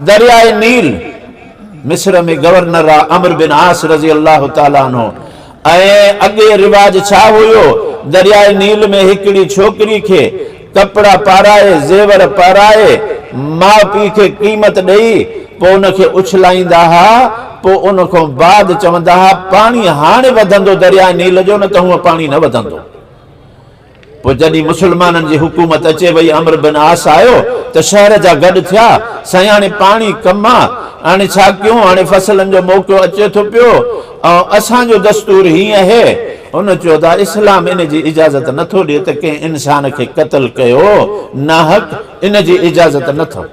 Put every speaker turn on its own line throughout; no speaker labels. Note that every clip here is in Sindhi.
درياء نيل، مصر ۾ گورنر را عمرو بن عاص رضي الله تعالٰي عنه ۽، اڳي رواج ڇا هيو، درياء نيل ۾ هڪڙي ڇوڪري کي ڪپڙا پارائي، زيور پارائي، ماء پيء کي قيمت ڏئي، پوء ان کي اڇلائيندا ها، پوء ان کان بعد چوندا ها، پاڻي هاڻي وڌندو درياء نيل جو نه ته هونء پاڻي نه وڌندو. پوء جڏهن مسلمانن جي حڪومت اچي وئي عمرو بن عاص آيو ته شهر جا گڏ ٿيا، سائين هاڻي پاڻي ڪم آ، هاڻي ڇا ڪيون، هاڻي فصلن جو موقعو اچي ٿو پيو ۽ اسان جو دستور هي اهي. هن چيو ته اسلام ان جي اجازت نه ٿو ڏي ته ڪنهن انسان کي قتل ڪيو ناحق، ان جي اجازت نه اٿو.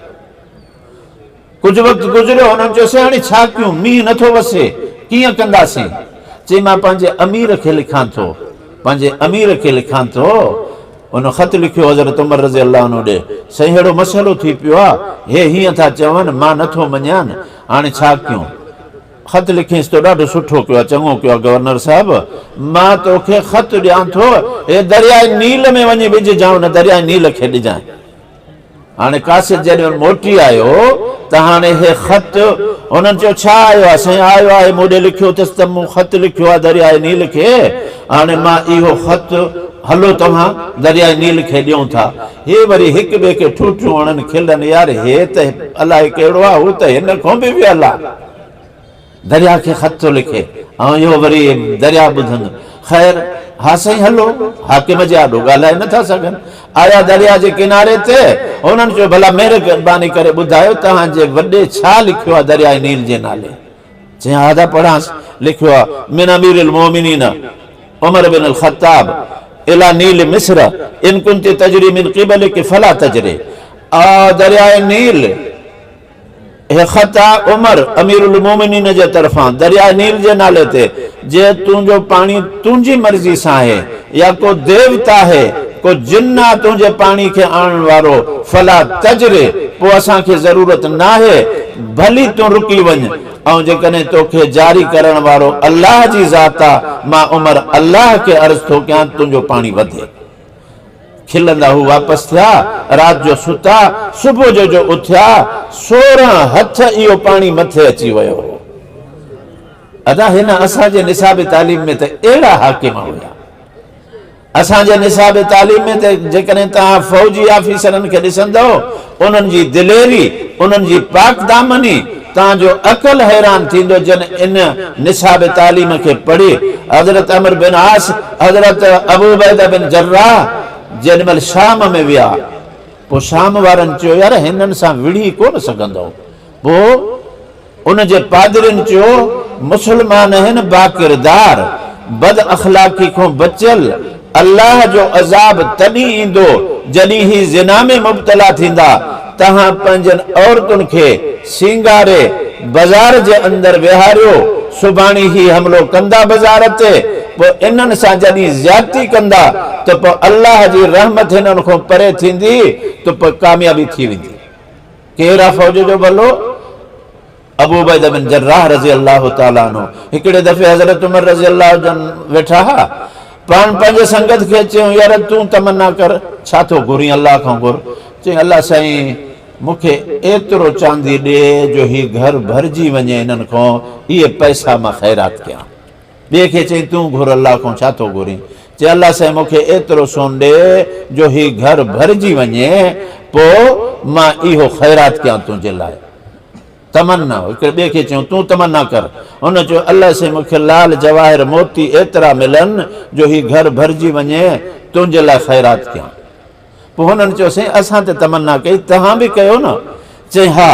ڪجهه وقت گذريو، هنن چيوسين، هاڻي ڇا ڪيون؟ مينهن نه ٿو وسي، ڪيئن ڪنداسين؟ چي، مان پنهنجي امير کي لکان ٿو، پنهنجي امير کي لکان ٿو. هن خط لکيو حضرت عمر رضي الله عنه ڏي، سائين ههڙو مسئلو ٿي پيو آ، هي هيئن ٿا چون، مان نه ٿو مڃيان، هاڻي ڇا ڪيون؟ خط لکيس، تو ڏاڍو سٺو ڪيو آ، چڱو ڪيو آ گورنر صاحب، مان توکي خط ڏيان ٿو، هي درياء نيل ۾ وڃي وجهجانء، ان درياء نيل کي ڏجانء. هاڻي قاصد جڏهن موٽي آيو ته هاڻي هي خط هنن چيو ڇا آيو آهي سائين آيو آهي مون ڏي لکيو اٿس ته مون خط لکيو آهي درياء نيل کي هاڻي مان اهو خط هلو توهان درياء نيل کي ڏيون ٿا هي وري هڪ ٻئي کي ٺوٺيون هڻن کلن يار هي ته الاهي ڪهڙو آهي هو ته هن کون به ويل آهي. درياء کي خط ٿو لکي ۽ اهو وري درياء ٻڌندو. خير، ها سائين هلو، حاڪم جي آڏو ڳالهائي نه ٿا سگهن. آيا درياء جي ڪناري تي، هنن چيو، ڀلا مهرباني ڪري ٻڌايو توهان جي وڏي ڇا لکيو آهي درياء نيل جي نالي؟ چيائين، ها ٿا پڙهانس، لکيو آهي، من امير المومنين عمر بن الخطاب الي نيل مصر ان ڪنت تجري من قبلک فلا تجري. آء درياء نيل. هي خط آ عمر امير المومنين جي طرفان درياء نيل جي نالي تي، جي تون جو پاڻي تنهنجي مرضي سان آهي، يا ڪو ديوتا آهي، ڪو جن آ تنهنجي پاڻي کي آڻڻ وارو، فلا تجري، پوء اسان کي ضرورت ناهي، ڀلي تون رڪي وڃ، ۽ جيڪڏهن تو کي جاري ڪرڻ وارو الله جي ذات آ، مان عمر الله کي عرض ٿو ڪيان تنهنجو پاڻي وڌي. کلندا هو واپس ٿيا، رات جو ستا، صبح جو جو اٿيا، سورهن هٿ اهو پاڻي مٿي اچي ويو هو. ادا هن اسان جي نصاب تعليم ۾ ته اهڙا حاڪم هيا. اسان جي نصاب تعليم ۾ ته جيڪڏهن توهان فوجي آفيسرن کي ڏسندؤ، انهن جي دليري، انهن جي پاڪدامني تان جو عقل حيران ٿيندو جن ان نصاب تعليم کي پڙهي. حضرت عمرو بن عاص، حضرت ابو عبيده بن جراح جيڏي مهل شام ۾ ويا پوء شام وارن چيو يار هنن سان وڙهي ڪونه سگهندؤ پوء ان جي پادرين چيو، مسلمان هن باڪردار، بد اخلاقي کون بچيل، الله جو عذاب تڏهن ايندو جڏهن هي زنا ۾ مبتلا ٿيندا، توهان پنهنجين عورتن کي سينگاري بزار جي اندر ويهاريو، سڀاڻي هي حملو ڪندا بزار تي، پوء انهن سان جڏهن زيادتي ڪندا ته پوء الله جي رحمت هنن کون پري ٿيندي ته پوء ڪاميابي ٿي ويندي. ڪير آ فوج جو بلو؟ ابو عبيده بن جراح رضي الله تعالٰي عنه هڪڙي دفعي حضرت عمر رضي الله جن ويٺا ها پاڻ پنهنجي سنگت کي چيو يار تون تمنا ڪر ڇا ٿو گهرين الله کان گهر چيائين الله سائين مون کي ايترو چاندي ڏي جو هي گهر ڀرجي وڃي انهن کان اهي پئسا مان خيرات ڪيان ٻئي کي چئين، تون گهر الله کان ڇا ٿو گهرين؟ چئي، الله سائين مون کي ايترو سون ڏي جو هي گهر ڀرجي وڃي، پوء مان اهو خيرات ڪيان تنهنجي لاء. تمنا، هڪڙي ٻئي کي چيو، تون تمنا ڪر. هن چيو، الله سائين مون کي لال جواهر موتي ايترا ملن جو هي گهر ڀرجي وڃي، تنهنجي لاء خيرات ڪيان. پوء هنن چيوسين، اسان ته تمنا ڪئي، توهان به ڪيو نه؟ چيائين، ها.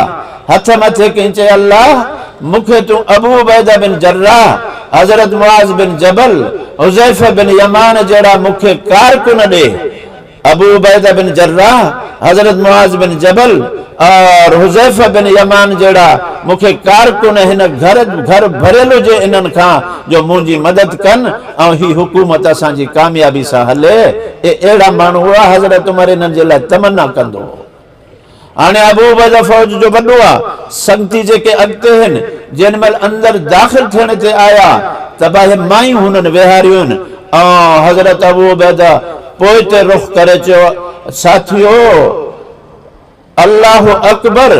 هٿ مٿي ڪيائين، چيو، الله! مون کي تون ابو عبيده بن جراح، حضرت معاذ بن جبل، حذيفه بن يمان جهڙا مون کي ڪارڪن ڏي. ابو عبيده بن جراح، حضرت معاذ بن جبل اور حذيفه بن يمان جهڙا مون کي ڪارڪن هن گهر ڀريل هجي انهن کان جو منهنجي مدد ڪن. ۽ هي حڪومت اسان جي ڪاميابي سان هلي، اي اهڙا ماڻهو هئا، حضرت عمر انهن جي لاء تمنا ڪندو هو. هاڻي ابو عبيده فوج جو وڏو آ، سنگتي جيڪي اڳتي هن، جنهن مهل اندر داخل ٿيڻ تي آيا ته باهه مائين هنن ويهاريون ۽ حضرت ابو عبيده پوئتي رخ ڪري چيو، ساٿيو! الله اڪبر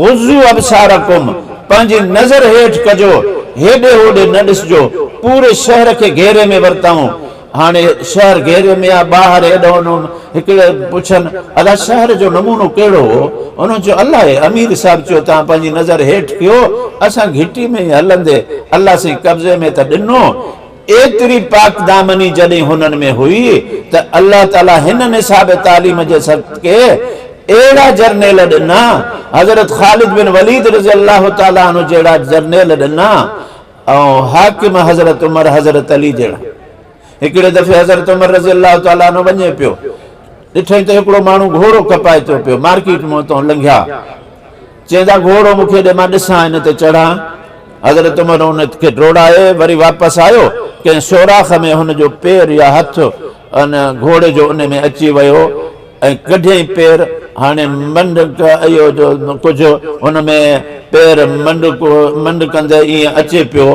غضوا ابصارڪم پنهنجي نظر هيٺ ڪجو هيڏي هوڏي نه ڏسجو پوري شهر کي گهيري ۾ ورتائون هاڻي شهر گهيري ۾ آ ٻاهر هيڏانهن هوڏانهن هڪڙي پڇن ادا شهر جو نمونو ڪهڙو هو انهن چيو الاهي امير صاحب چيو توهان پنهنجي نظر هيٺ ڪيو اسان گهٽي ۾ هلندي الله سائين قبضي ۾ ته ڏنو ايتري پاڪدامني جڏهن هنن ۾ هئي ته الله تعاليٰ هن نصاب تعليم جي صدقي اهڙا جرنيل ڏنا، حضرت خالد بن وليد رضي الله تعاليٰ عنه جهڙا جرنيل ڏنا ۽ حاڪم حضرت عمر حضرت علي جهڙا. هڪڙي دفعي حضرت عمر رضي الله تعاليٰ عنه وڃي پيو، ڏٺائين ته هڪڙو ماڻهو گهوڙو کپائي ٿو پيو، مارڪيٽ مون تان لنگهيا. چيائين ته گهوڙو مون کي ڏي مان ڏسان ان تي چڙهان. حضرت عمر ان کي ڊوڙائي وري واپس آيو، ڪنهن سوراخ ۾ هن جو پير يا هٿ ان گهوڙي جو ان ۾ اچي ويو ۽ ڪڍيائين پير. هاڻي منڊڪ اهو جو ڪجهه هن ۾ پير منڊڪندي ائين اچي پيو.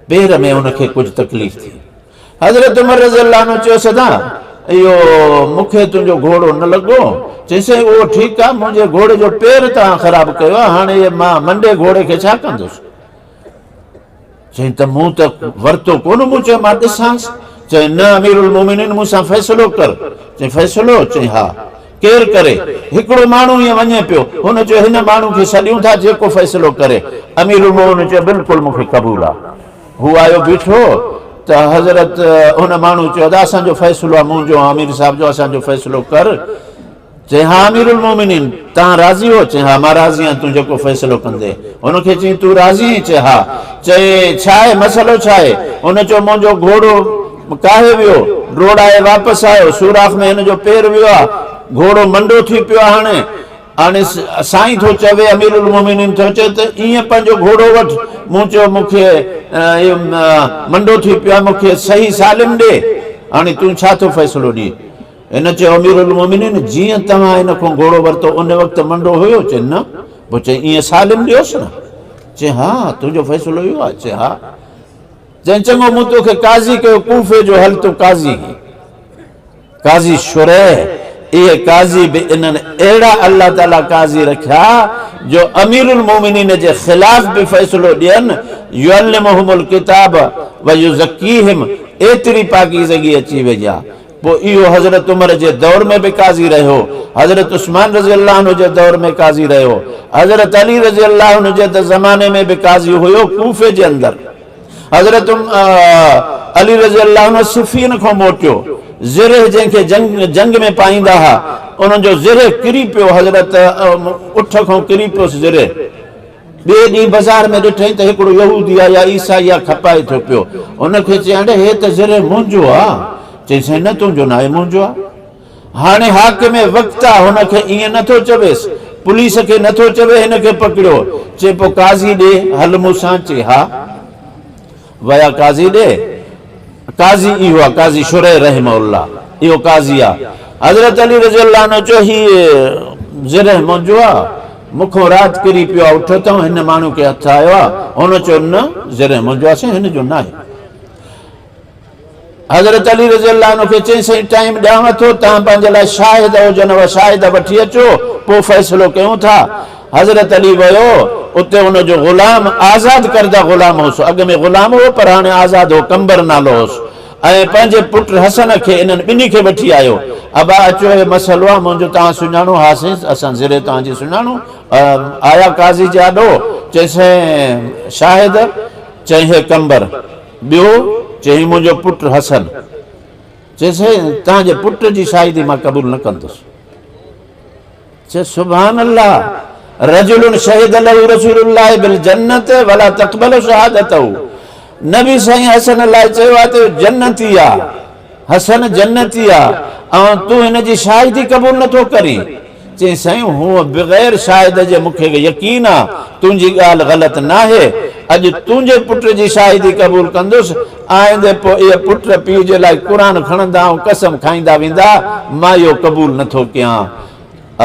پير ۾ هن کي ڪجهه تڪليف ٿي. حضرت عمر رضي الله عنه چيو سدا اهو مون کي تنهنجو گهوڙو نه لڳو؟ چيس سائين اهو ٺيڪ آهي منهنجي گهوڙي جو پير توهان خراب ڪيو آهي هاڻي مان منڊي گهوڙي کي ڇا ڪندس؟ چيائين ته مون ته ورتو ڪونه مون چيو مان ڏسانس چيائين نه امير المومنين مون سان فيصلو ڪر چيائين فيصلو؟ چيائين ها ڪير ڪري؟ هڪڙو ماڻهو ائين وڃي پيو هن چيو هن ماڻهو کي سڏيون ٿا جيڪو فيصلو ڪري امير المومنين چيو بلڪل مون کي قبول آهي. هو آيو بيٺو ته حضرت ان ماڻهو چيو ادا اسان جو فيصلو آ مون جو آمير صاحب جو اسان جو فيصلو ڪر چي ها امير المومنين تان راضي هو چي ها مان راضي آهيان تون جيڪو فيصلو ڪندي ان کي چي تون راضي آهين چي ها چي ڇا آهي مسئلو ڇا آهي ان چيو مون جو گهوڙو ڪاهي ويو ڊوڙائي واپس آيو سوراخ ۾ هن جو پير ويو آ گهوڙو منڊو ٿي پيو آ هاڻي هاڻي سائين ٿو چوي، امير المومنين ٿو چوي ته ايئن پنهنجو گهوڙو وٺ. مون چيو مون کي اهو منڊو ٿي پيو آهي، مون کي صحيح سالم ڏي. هاڻي تون ڇا ٿو فيصلو ڏئين؟ هن چيو امير المومنين جيئن توهان هن کان گهوڙو ورتو ان وقت منڊو هيو؟ چيائين نه. پوء چيائين ايئن سالم ڏيوس نه؟ چيائين ها، تنهنجو فيصلو اهو آهي؟ چيائين ها. چيائين چڱو مون تو کي قاضي ڪيو ڪوفي جو هل تون قاضي هين. قاضي شريح، اهي قاضي به انهن اهڙا الله تعاليٰ قاضي رکيا جو امير المومنين جي خلاف به فيصلو ڏين، يعلمهم الڪتاب ويزڪيهم، ايتري پاڪيزگي اچي وئي آ. پوء اهو حضرت عمر جي دور ۾ به قاضي رهيو، حضرت عثمان رضي الله عنه جي دور ۾ قاضي رهيو، حضرت علي رضي الله عنه جي ته زماني ۾ به قاضي هيو ڪوفي جي اندر. حضرت علي رضي الله عنه صفين کان موٽيو زره جنهن کي جنگ ۾ پائيندا ها ان جو زره ڪري پيو حضرت اٺ کان ڪري پيس زره ٻئي ڏينهن بازار ۾ ڏٺئين ته هڪڙو يهودي آ يا عيسائي آ کپائي ٿو پيو ان کي چيائين اڙي هي ته زره منهنجو آ چيس نه تنهنجو ناهي منهنجو آ. هاڻي حاڪم وقت آ هن کي ائين نه ٿو چويس پوليس کي نه ٿو چوي هن کي پڪڙيو چي پو قاضي ڏي هل مون سان چي ها ويا قاضي ڏي قاضي اهو آ قاضي شريح رحمه الله اهو قاضي آ حضرت علي رضي الله عنه چو هي زريح منهنجو آ مونکو رات ڪري پيو آ اٺ اتان هن ماڻهو کي هٿ آيو آ هن چو نه زريح منهنجو آ سائين هن جو ناهي حضرت علي رضي الله عنه کي چيائين سائين ٽائيم ڏيانو ٿو توهان پنهنجي لاء شاهد هجن اها شاهد وٺي اچو پوء فيصلو ڪيون ٿا حضرت علي ويو اتي ان جو غلام آزاد ڪرده غلام هوس اڳ ۾ غلام هو پر هاڻي آزاد هو قمبر نالو هوس ۽ پنهنجي پٽ حسن کي انهن ٻنهي کي وٺي آيو ابا اچو هي مسئلو آهي منهنجو توهان سڃاڻو ها سائين اسان زري توهان جي سڃاڻو آيا قاضي جي آڏو چيائين سائين شاهد چيائين هي قمبر ٻيو، چيائين منهنجو پٽ حسن. چيس توهان جي پٽ جي شاهدي مان قبول نه ڪندس. چيس سبحان الله رجل شهد له رسول الله بالجنة ولا تقبل شهادته نبي سائين حسن لاء چيو آهي ته جنتي آ. حسن جنتيء، اوهان تون هن جي شاهدي قبول نه ٿو ڪرين؟ چيائين، سائين هوء بغير شاهد جي مون کي يقين آ، تنهنجي ڳالهه غلط ناهي، اڄ تنهنجي پٽ جي شاهدي قبول ڪندس، آئندي پوء اهي پٽ پيء جي لاء قرآن کڻندا ۽ قسم کائيندا ويندا، مان اهو قبول نه ٿو ڪيان.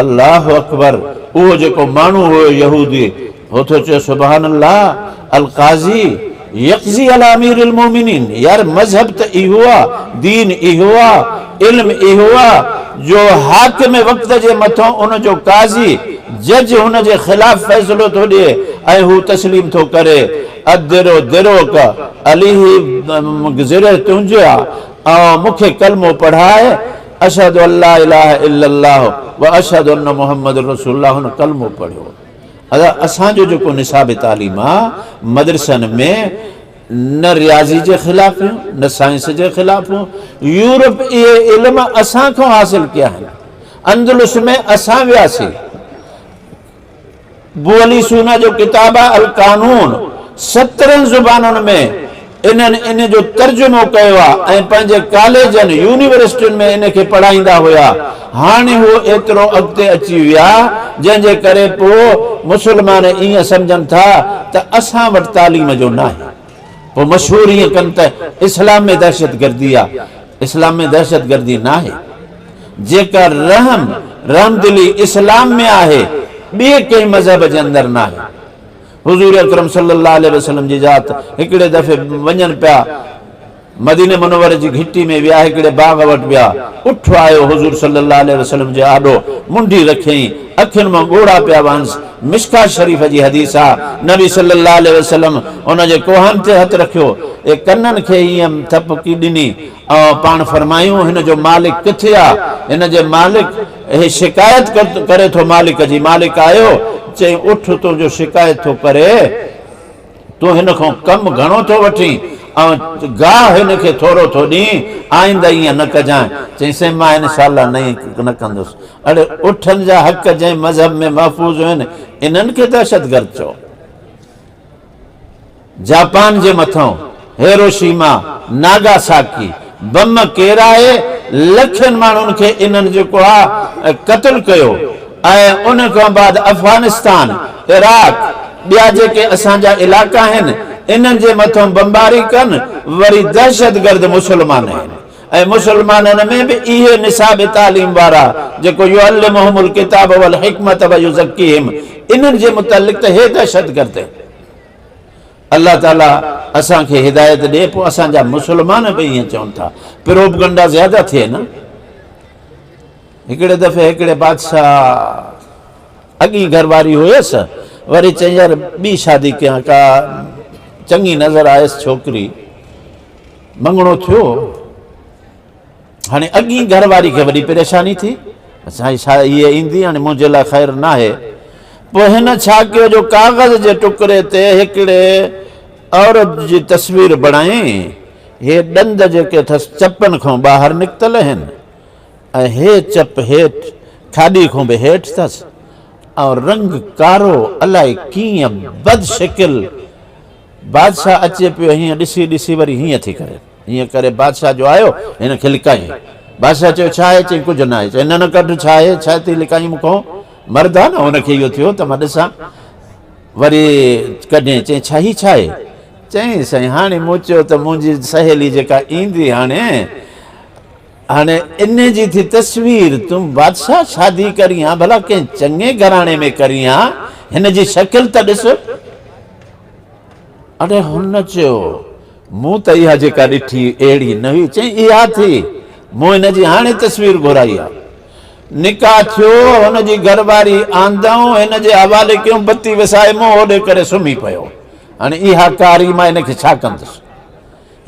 الله اڪبر اهو جيڪو ماڻهو هيو يهودي هو ٿو چئي سبحان الله القاضي يقضي علي امير المومنين يار مذهب ته اهو آ دين اهو آ علم اهو آ جو حاڪم وقت جي مٿون ان جو قاضي جج هن جي خلاف فيصلو ٿو ڏئي ۽ هو تسليم ٿو ڪري ادرو دروڪ عليه گذري تنهنجي آ ۽ مون کي ڪلمو پڙهاء اشھد ان لا اله الا الله و اشھد ان محمد رسول الله هن ڪلمو پڙهيو اسان جو جيڪو نصاب تعليم آ مدرسن ۾ نه رياضي جي خلاف هيون نه سائنس جي خلاف هيون يورپ اهي علم اسان کان حاصل ڪيا آهن اندلس ۾ اسان وياسي بولي سونا جو ڪتاب آهي القانون، سترهن زبانن ۾ انهن ان جو ترجمو ڪيو آهي ۽ پنهنجي ڪاليجن، يونيورسٽين ۾ ان کي پڙهائيندا هيا. هاڻي هو ايترو اڳتي اچي ويا، جنهن جي ڪري پوء مسلمان ائين سمجهن ٿا ته اسان وٽ تعليم جو ناهي. پوء مشهور ائين ڪن ته اسلام ۾ دهشتگردي آ، اسلام ۾ دهشتگردي ناهي. جيڪا رحم، رحمدلي اسلام ۾ آهي، ٻئي ڪنهن مذهب جي اندر ناهي. حضور اڪرم صلي الله عليه وسلم جي ذات هڪڙي دفعي وڃن پيا. مديني منوري جي گهٽي ۾ ويا هڪڙي باغ وٽ ويا، اٺ آيو حضور صلي الله عليه وسلم جي آڏو منڍي رکيائين، اکين مان ڳوڙها پيا وهنس، مشڪات شريف جي حديث آ، نبي صلي الله عليه وسلم ان جي ڪوهن تي هٿ رکيو ۽ ڪنن کي ائين ٿپڪي ڏني ۽ پاڻ فرمايائون هن جو مالڪ ڪٿي آ؟ هن جي مالڪ هي شڪايت ڪري ٿو مالڪ جي، مالڪ آيو چيائين اٺ تنهنجو شڪايت ٿو ڪري. تون هن کان ڪم گهڻو ٿو وٺين ۽ گاهه هن کي ٿورو ٿو ڏين، آئنده ائين نه ڪجانء. چيائين، سائين مان هن سال لاء نئين نه ڪندس. اڙي اٺن جا حق جنهن مذهب ۾ محفوظ هين، انهن کي دهشتگرد چئو. جاپان جي مٿئون. هيروشيما ناگاساڪي بم ڪيرائي لکين ماڻهن کي انهن جيڪو آ قتل ڪيو ۽ ان کان بعد افغانستان عراق ٻيا جيڪي اسان جا علائقا آهن انهن جي مٿان بمباري ڪن وري دهشتگرد مسلمان آهن ۽ مسلمانن ۾ به اهي نصاب تعليم وارا جيڪو يعلمهم الڪتاب والحڪمة ويزڪيهم انهن جي متعلق ته هي دهشتگرد آهن. الله تعالي اسان کي هدايت ڏي پوء اسان جا مسلمان به ائين چون ٿا پروپگنڊا زياده ٿئي نه هڪڙي دفعي هڪڙي بادشاهه اڳي گهر واري هيس وري چيائين يار ٻي شادي ڪيان ڪا چڱي نظر آيس ڇوڪري مڱڻو ٿيو هاڻي اڳين گهر واري کي وڏي پريشاني ٿي، سائين ڇا هيء ايندي هاڻي منهنجي لاء خير ناهي. پوء هن ڇا ڪيو جو ڪاغذ جي ٽڪري تي هڪڙي عورت جي تصوير بڻائي، هي ڏند جيڪي اٿس چپن کان ٻاهر نڪتل اهن ۽ هي چپ هيٺ کاڏي کان به هيٺ اٿس ۽ رنگ ڪارو الاء ڪيئن بد شڪل بادشاهه اچي پيو هيئن ڏسي ڏسي وري هيئن ٿي ڪري. ان ڪري بادشاهه جو آيو هن کي لڪائين. بادشاهه چيو ڇا آهي؟ چيائين ڪجهه نه آهي. چيائين نه نه ڪڍ ڇا آهي؟ ڇا ٿي لڪائين مون کان؟ مرد آهي نه هن کي اهو ٿيو ته مان ڏسان. وري ڪڍيائين چيائين ڇا هي ڇا آهي؟ چيائين سائين هاڻي مون چيو ته منهنجي سهيلي جيڪا ايندي هاڻي هاڻي ان جي ٿي تصوير تون بادشاهه شادي ڪرين ها ڀلا ڪنهن چڱي گهراڻي ۾ ڪرين ها هن جي شڪل ته ڏس. اڙي هن چيو، مون ته اها جيڪا ڏٺي اهڙي نه هئي. چيائين، اها ٿي، مون هن جي هاڻي تصوير گهرائي آ. نڪاح ٿيو، هن جي گهر واري آندائون هن جي حوالي ڪيون، بتي وسائي مون هوڏي ڪري سمهي پيو. هاڻي اها ڪاري مان هن کي ڇا ڪندس؟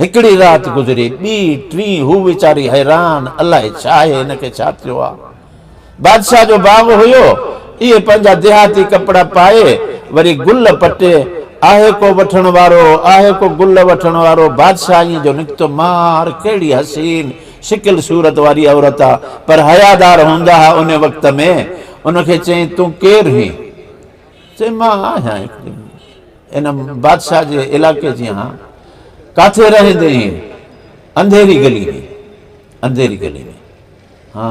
هڪڙي رات گذري، ٻي، ٽين، هو ويچاري حيران، الائي ڇا آهي هن کي ڇا ٿيو آ؟ بادشاهه جو باغ هيو، اهي پنهنجا ديهاتي ڪپڙا پائي، وري گل پٽي، آهي ڪو وٺڻ وارو، آهي ڪو گل وٺڻ وارو، بادشاهه ائين جو نڪتو، مار، ڪهڙي حسين شڪل صورت واري عورت آ، پر حيادار هوندا ها ان وقت ۾، ان کي چيائين، تون ڪير هين؟ چيم مان آهيان هڪ ڏينهن ان بادشاهه جي علائقي جي هان ڪاٿي رهندي هين انڌيري گلي ۾ انڌيري گلي ۾ ها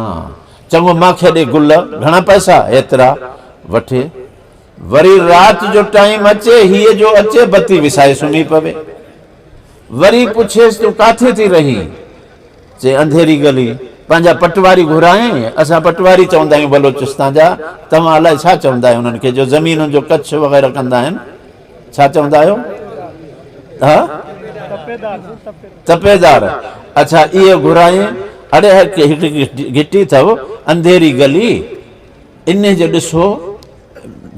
چڱو مان کي ڏي گل گهڻا پئسا ايترا وٺي وري رات جو ٽائيم اچي هيء جو اچي بتي وسائي سمهي پوي وري پڇيس تون ڪاٿي ٿي رهي چي انڌيري ڳلي پنهنجا پٽواري گهرائين، اسان پٽواري چوندا آهيون بلوچستان جا، توهان الائي ڇا چوندا آهيو انهن کي جو زمينن جو ڪڇ وغيره ڪندا آهن، ڇا چوندا آهيو؟ ها؟ تپيدار، اڇا اهي گهرائين، اڙي هڪ گهٽي اٿئو انڌيري ڳلي، انهي جو ڏسو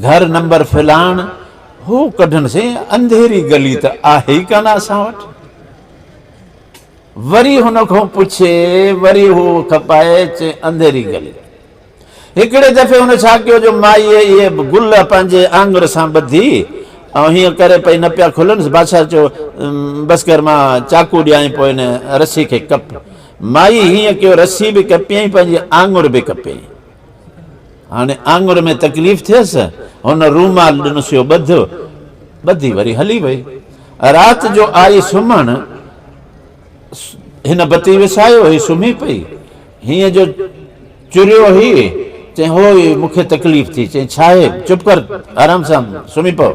گهر نمبر فلاڻ، هو ڪڍن سائين انڌيري ڳلي ته آهي ئي ڪانه اسان وٽ. وري هن کان پڇي، وري هو کپائي چي انڌيري گلي. هڪڙي دفعي هن ڇا ڪيو جو مائيء اهي به گل پنهنجي آڱر سان ٻڌي ۽ هيئن ڪري پئي نه پيا کلنس. بادشاهه چيو، بس ڪر مان چاقو ڏيانء پوء هن رسي کي ڪپ. مائيء هيئن ڪيو رسي به ڪپيائين پنهنجي آڱر به ڪپيائين. هاڻي آڱر ۾ تڪليف ٿيس. هن رومال ڏنس يو ٻڌ. ٻڌي وري هلي وئي. رات جو آئي سمهڻ هن بتي وسايو هي سمهي پئي. هينئن جو چريو هي. چئين هو هي مون کي تڪليف ٿي. چئين ڇاهي؟ چپ ڪر آرام سان سمهي پو.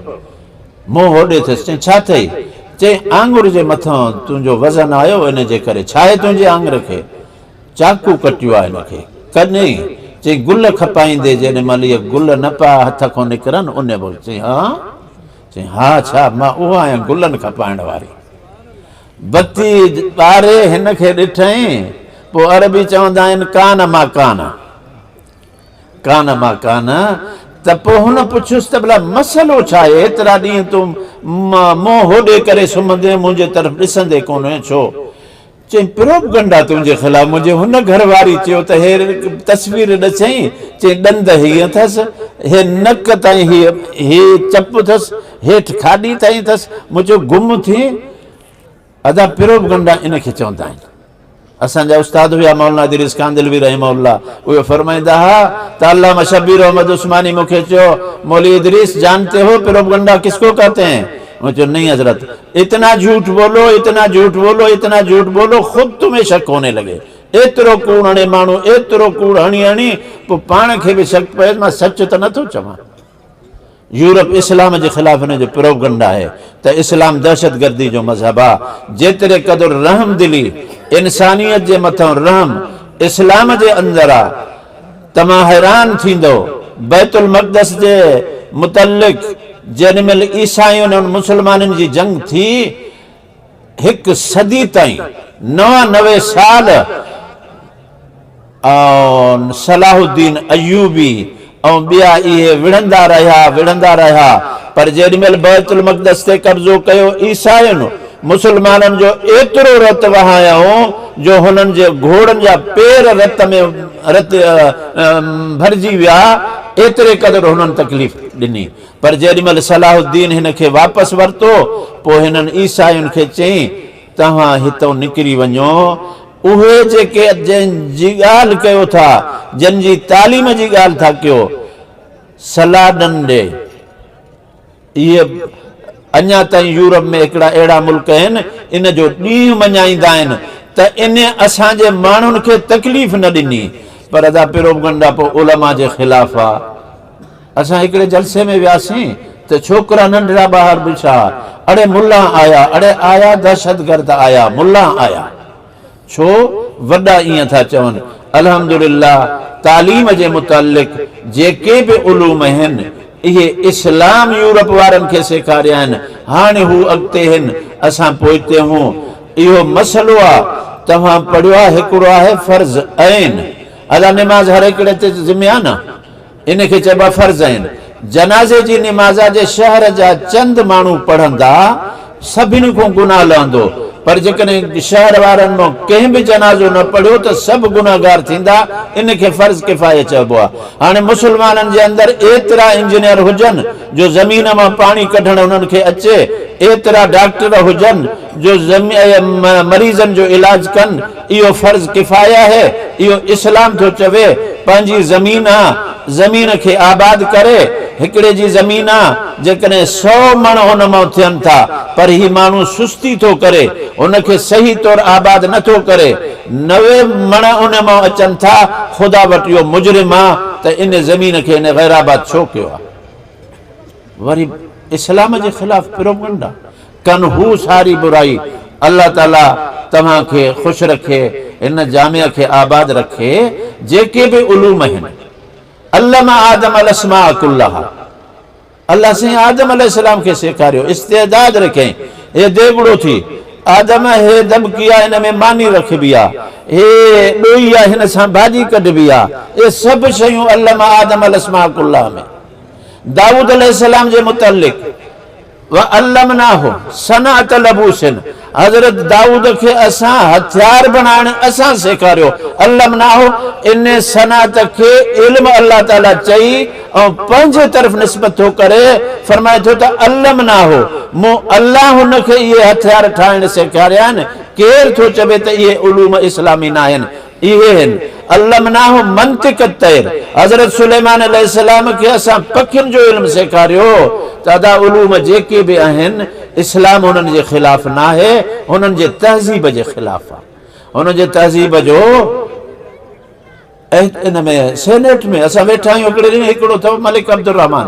منهن هوڏي ٿيس. چئين ڇا ٿئي؟ چئين آڱر جي مٿان تنهنجو وزن آيو ان جي ڪري. ڇاهي تنهنجي آڱر کي؟ چاقو ڪٽيو آ هن کي ڪڏهن؟ چئي گل کپائيندي جيڏي مهل اهي گل نه پيا هٿ کون نڪرن انهي وقت چئي ها؟ چئي ها ڇا مان اها آهيان گلن کپائڻ واري بتي ٻاري هن کي ڏٺئين پوء عربي چوندا آهن ڪان ما ڪان ڪان ما ڪان ته پوء هن پڇيس ته ڀلا مسئلو ڇا آهي ايترا ڏينهن تون منهن هوڏي ڪري سمهندين منهنجي طرف ڏسندي ڪونه هئين ڇو؟ چيائين پروپگنڊا تنهنجي خلاف منهنجي هن گهر واري چيو ته هي تصوير ڏسيائين چيائين ڏند هي اٿس هي نڪ تائين هي هي چپ اٿس هيٺ کاڏي تائين اٿس مون چيو گم ٿي ادا پروپگنڊا ان کي چوندا آهن اسان جا استاد هيا مولانا ادريس ڪاندلوي رحمه الله اهي فرمائندا ها ته علامه شبير احمد عثماني مونکي چيو مولي ادريس جانتي هو پروپگنڊا کس ڪو ڪهتي هين مون چيو نھين حضرت اتنا جھوٽ بولو اتنا جھوٽ بولو اتنا جھوٽ بولو خود تمھين شڪ ھوني لگي ايترو ڪوڙ ھڻي ماڻھو ايترو ڪوڙ ھڻي ھڻي پوء پاڻ کي به شڪ پئيس مان سچ ته نه ٿو چوان يورپ اسلام جي خلاف انھن جو پروپگنڊ آھي ته اسلام دهشتگردي جو مذھب آ جيتري قدر رحمدلي انسانيت جي مٿئون رحم اسلام جي اندر آ توهان حيران ٿيندؤ بيت المقدس جي متعلق جيڏي مهل عيسائين ۽ مسلمانن جي جنگ ٿي هڪ صدي تائين نوانوي سال ۽ صلاح الدين ايوبي ۽ ٻيا اهي وڙهندا رهيا وڙهندا رهيا پر جيڏي مهل بيت المقدس تي قبضو ڪيو عيسائين مسلمانن جو ايترو رت وهايائون جو هنن جي گهوڙن جا پير رت ۾ ڀرجي ويا، ايتري قدر هنن تڪليف ڏني. پر جيڏي مهل صلاح الدين هن کي واپس ورتو، پوء هنن عيسائين کي چيائين، توهان هتئون نڪري وڃو، اهي جيڪي جنهن جي ڳالهه ڪيو ٿا، جن جي تعليم جي ڳالهه ٿا ڪيو، صلاح ڏن ڏي. اهي اڃا تائين يورپ ۾ هڪڙا اهڙا ملڪ آهن، ان جو ڏينهن مڃائيندا آهن ته انهي اسان جي ماڻهن کي تڪليف نه ڏني، پر ادا پروپگنڊا پوء علماء جي خلاف آ. اسان هڪڙي جلسي ۾ وياسين ته ڇوڪرا ننڍڙا ٻاهر بيٺا، اڙي ملان آيا، اڙي آيا دهشتگرد آيا، ملان آيا. ڇو وڏا ائين ٿا چون؟ الحمدلله تعليم جي متعلق جيڪي به علوم هن اهي اسلام يورپ وارن کي سيکاريا آهن هاڻي هو اڳتي هن اسان پوئتي هون اهو مسئلو آ توهان پڙهيو آ هڪڙو آهي فرض عين ادا نماز هر هڪڙي تي ذمي آ نه. ان کي چئبو آهي فرض عين. جنازي جي نماز آ جي شهر جا چند ماڻهو پڙهندا، سڀني کان گناهه لهندو، پر جيڪڏهن شهر وارن مان ڪنهن به جنازو نه پڙهيو ته سڀ گنهگار ٿيندا، ان کي فرض ڪفايه چئبو آهي. هاڻي مسلمانن جي اندر ايترا انجنيئر هجن جو زمين مان پاڻي ڪڍڻ انهن کي اچي، ايترا ڊاڪٽر هجن جو مريضن جو علاج ڪن، اهو فرض ڪفايه آهي، اهو اسلام ٿو چوي، پنهنجي زمين آ، زمين کي آباد ڪري، هڪڙي جي زمين آ، جيڪڏهن سؤ مڻ ان مان ٿين ٿا، پر هي ماڻهو سستي ٿو ڪري، ان کي صحيح طور آباد نه ٿو ڪري، نوي مڻ ان مان اچن ٿا، خدا وٽ اهو مجرم آ ته ان زمين کي ان غيرآباد ڇو ڪيو آ؟ وري اسلام جي خلاف پروپگنڊا ڪن هو ساري برائي الله تعالي توهان کي خوش رکي هن جامع کي آباد رکي جيڪي به علوم آهن علم آدم الاسماء ڪلها الله سائين آدم عليه السلام کي سيکاريو استعداد رکين اي ديڳڙو ٿي آدم هي دٻڪي آ ان ۾ ماني رکبي آ هي ڏوئي آ هن سان ڀاڄي ڪڍبي آ اي سڀ شيون علم آدم الاسماء ڪلها ۾ دائود عليه السلام جي متعلق وعلمناه صنعت لبوس حضرت دائود کي اسان هٿيار بڻائڻ اسان سيکاريو علمناه ان صنعت کي علم الله تعالي چئي ۽ پنهنجي طرف نسبت ٿو ڪري فرمائي ٿو ته علمناه مون الله هن کي اهي هٿيار ٺاهڻ سيکاريا آهن ڪير ٿو چوي ته اهي علوم اسلامي ناهن اهي هن، علمناه منطق الطير، حضرت سليمان عليه السلام کي اسان پکين جو علم سيکاريو ته ادا علوم جيڪي به اهن اسلام انهن جي خلاف ناهي انهن جي تهذيب جي خلاف آ انهن جي تهذيب جو اهي ان ۾ سينيٽ ۾ اسان ويٺا آهيون هڪڙي ڏينهن هڪڙو اٿو ملڪ عبدالرحمان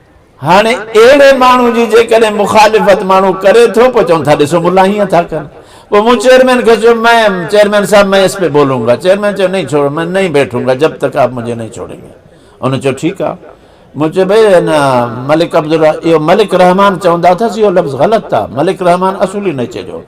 هاڻي اهڙي ماڻهو جي جيڪڏهن مخالفت ماڻهو ڪري ٿو پوء چون ٿا ڏسو ملا هيئن ٿا ڪن. پوء مون چيئرمين کي چيو مين چيئرمين صاحب مين اس پي بولون گا چيئرمين چيو نهين ڇوڙو مين نهين بيٺون گا جب تڪ آپ مجهي نهين ڇوڙين گي ان چيو ٺيڪ آ مون چيو ڀئي هن ملڪ عبدالر اهو ملڪ رحمان چوندا اٿس اهو لفظ غلط ٿا ملڪ رحمان اصولي نيچي جو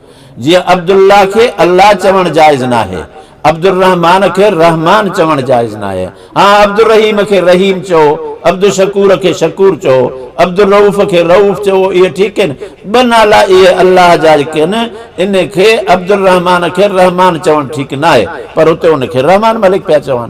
جيئن عبدالله کي الله چوڻ جائز ناهي عبدالرحمان کي رحمان چوڻ جائز ناهي. ها عبدالرحيم کي رحيم چئو، عبدالشڪور کي شڪور چئو، عبدالرئوف کي رئوف چئو اهي ٺيڪ آهن. ٻه نالا اهي الله جا ئي ڪن ان کي عبدالرحمان کي رحمان چوڻ ٺيڪ ناهي پر اتي ان کي رحمان ملڪ پيا چون.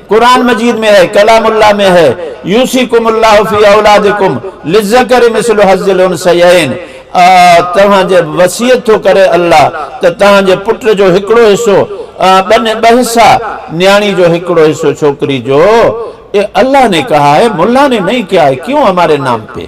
قرآن مجيد ۾ هي ڪلام الله ۾ هي يوصيڪم الله في اولادڪم للذڪر مثل حظ الانثيين توهان جي وصيت ٿو ڪري الله ته توهان جي پٽ جو هڪڙو حصو ٻن ٻه حصا نياڻي جو هڪڙو حصو ڇوڪري جو اي الله ني ڪها هي ملا ني نهين ڪيا هي ڪيون هماري نام پي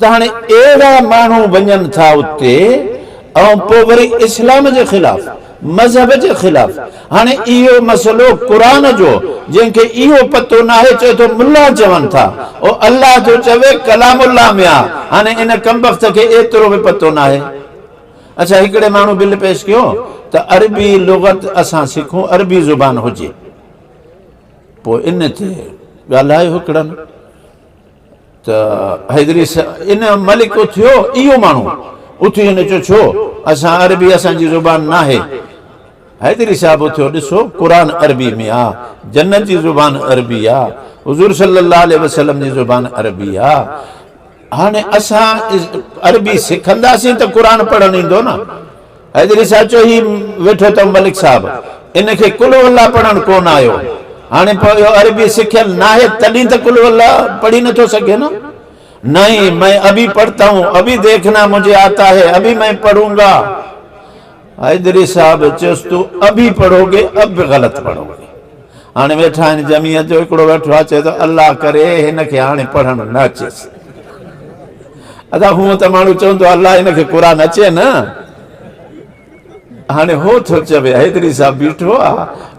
ته هاڻي اهڙا ماڻهو وڃن ٿا اتي ۽ پوء وري اسلام جي خلاف مذهب جي خلاف هاڻي اهو مسئلو قرآن جو جنهن کي اهو پتو ناهي چئي ٿو ملا چون ٿا او الله ٿو چوي ڪلام الله ۾ آ هاڻي ان ڪمبخت کي ايترو به پتو ناهي اڇا هڪڙي ماڻهو بل پيش ڪيو ته عربي لغت اسان سکون عربي زبان هجي پوء ان تي ڳالهايو هڪڙن ته حيدري ان ملڪ اٿيو اهو ماڻهو اٿي هن چيو ڇو اسان عربي اسان جي زبان ناهي حيدري صاحب اٿيو ڏسو قرآن عربي ۾ آ جنت جي زبان عربي آ حضور صلي الله عليه وسلم جي زبان عربي آ هاڻي اسان عربي سکنداسين ته قرآن پڙهڻ ايندو نه حيدري صاحب چيو هي ويٺو اٿئو ملڪ صاحب ان کي قل هو الله پڙهڻ ڪونه آيو هاڻي پوء اهو عربي سکيل ناهي تڏهن ته قل هو الله پڙهي نٿو سگهي نه نهين مين ابي پڙهتا هون ابي ديکنا مجهي آتا هي ابي مين پڙهون گا حيدري صاحب چيس تو ابي پڙهو گي اب به غلط پڙهو گي. هاڻي ويٺا آهن جمعيت جو هڪڙو ويٺو آهي چئي ٿو الله ڪري هن کي هاڻي پڙهڻ نه اچيس ادا هونء ته ماڻهو چوندو آهي الله هن کي قرآن اچي نه هاڻي هو ٿو چوي حيدري صاحب بيٺو آ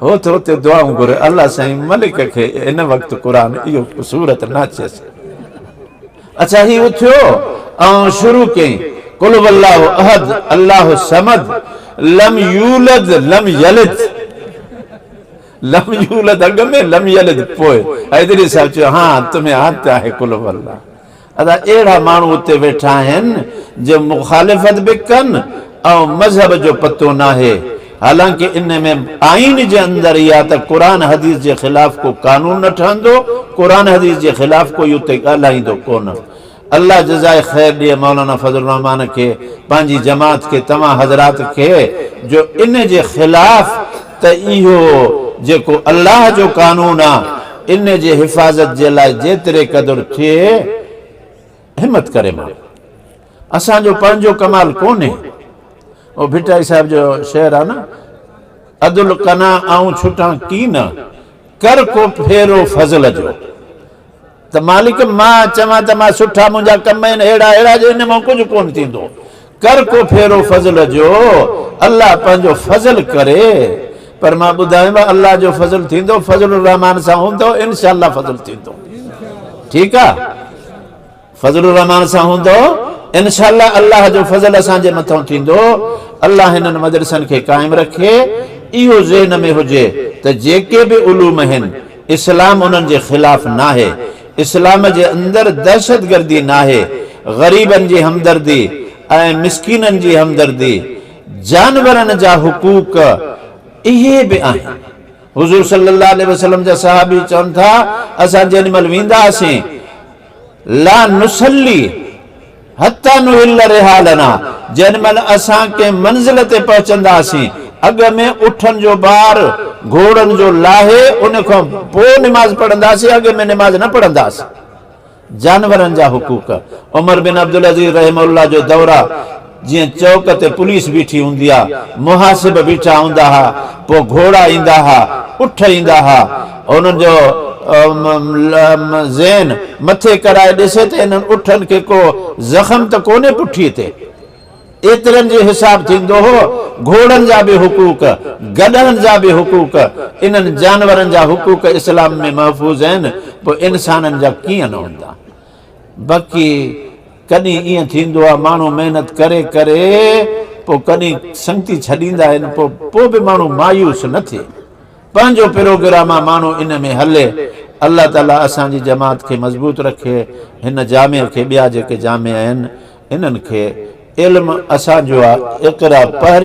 هو ٿو اتي دعائون گهري الله سائين ملڪ کي هن وقت قرآن اهو سورت نه اچيس اچا هي اٿيو آئون شروع ڪئين قل والله احد الله الصمد لم يولد لم يلد لم يولد اڳ ۾ لم يلد پوء حيدري صاحب چيو ها تمھين عادت آھي قلھو الله ادا اھڙا ماڻھو اتي ويٺا آھن جو مخالفت به ڪن ۽ مذھب جو پتو ناھي حالانڪه ان ۾ آئين جي اندر يا ته قرآن حديث جي خلاف ڪو قانون نه ٺھندو قرآن حديث جي خلاف ڪوئي اتي ڳالھائيندو ڪونه الله جزائي خير ڏي مولانا فضل الرحمان کي پنهنجي جماعت کي توهان حضرات کي جو ان جي خلاف ته اهو جيڪو الله جو قانون آ ان جي حفاظت جي لاء جيتري قدر ٿئي همت ڪري ماڻهو اسان جو پنهنجو ڪمال ڪونهي او ڀٽائي صاحب جو شعر آ نه ادل ڪنا آئون ڇٽان ڪين ڪر ڪو ڦيرو فضل جو ته مالڪ مان چوان ته مان سٺا منهنجا ڪم آهن اهڙا اهڙا جو ان مان ڪجهه ڪونه ٿيندو ڪر ڪو ڦيرو فضل جو الله پنهنجو فضل ڪري پر مان ٻڌايم الله جو فضل ٿيندو فضل الرحمان سان هوندو انشاء الله فضل ٿيندو ٺيڪ آ فضل الرحمان سان هوندو انشاء الله الله جو فضل اسان جي مٿان ٿيندو الله هنن مدرسن کي قائم رکي اهو ذهن ۾ هجي ته جيڪي به علوم آهن اسلام انهن جي خلاف ناهي، اسلام جي اندر دهشتگردي ناهي، غريبن جي همدردي ۽ مسڪينن جي همدردي، جانورن جا حقوق اهي به آهن. حضور صلي الله عليه وسلم جا صحابي چون ٿا، اسان جيڏي مهل ويندا هئاسين، لا نصلي، حتيٰ نحل رحالنا جنھن مھل اسان ڪنھن منزل تي پهچنداسين اڳ ۾ اٺن جو بار گھوڙن جو لاھي ان کان پوء نماز پڙھنداسين اڳ ۾ نماز نه پڙھنداسين جانورن جا حقوق عمر بن عبدالعزيز رحمه الله جو دورا جيئن چوڪ تي پوليس بيٺي هوندي آ محاسب بيٺا هوندا ها پوء گھوڙا ايندا ها اٺ ايندا ها هن جو ذهن مٿي ڪرائي ڏسي ته انهن اٺن کي ڪو زخم ته ڪونهي پٺيء تي. ايترن جو حساب ٿيندو هو، گهوڙن جا به حقوق، گڏهن جا به حقوق، انهن جانورن جا حقوق اسلام ۾ محفوظ آهن، پوء انسانن جا ڪيئن نه هوندا؟ بقي ڪڏهن ائين ٿيندو آهي، ماڻهو محنت ڪري ڪري پوء ڪڏهن سنگتي ڇڏيندا آهن، پوء به ماڻهو مايوس نه ٿئي. پنهنجو پروگرام آ ماڻهو ان ۾ هلي الله تعالي اسان جي جماعت کي مضبوط رکي هن جامع کي ٻيا جيڪي جامع آهن انهن کي علم اسان جو آ اقرا پهرين.